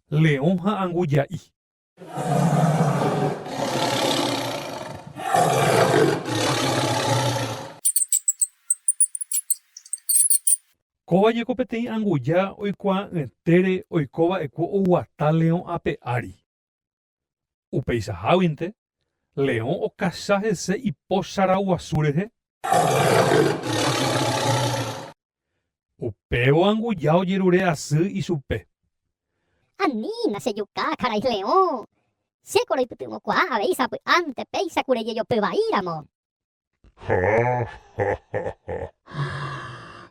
Leõ ha anguja'i. Kóva jeko peteĩ anguja oikuaa'ỹetére oiko va'ekue oguata leõ ape ári. Upeichaháguinte, leõ okacha hese ipóchara guasu rehe. Upévo anguja ojerure asy ichupe. Anína, che juka karai leõ! Chéko roipytyvõkuaa avei sapy'ánte péicha kure jejopy vaíramo. Háháháha!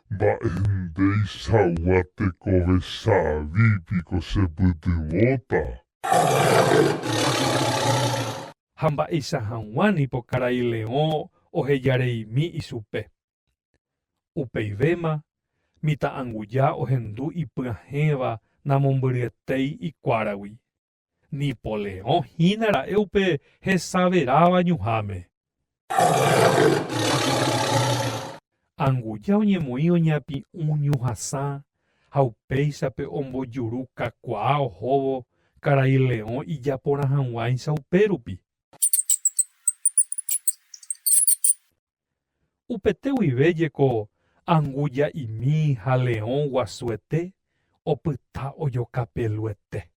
Mba'énteichagua tekove savi piko chepytyvõta? Ha mba'eicha hag̃ua nipo karai leõ ohejareimi ichupe. Upeivéma, mitã'anguja ohendu ipyahẽva namombyryetéi ikuáragui. Nipoleõ hína ra'e upe hesaveráva ñuháme. Anguja oñemoĩ oñapi'ũ ñuhasã ha upéichape ombojuru kakuaa ohóvo karai leõ ijaporã hag̃uáicha upérupi. Upete guive jeko anguja imi ha leõ guasuete opyta ojokapeluete.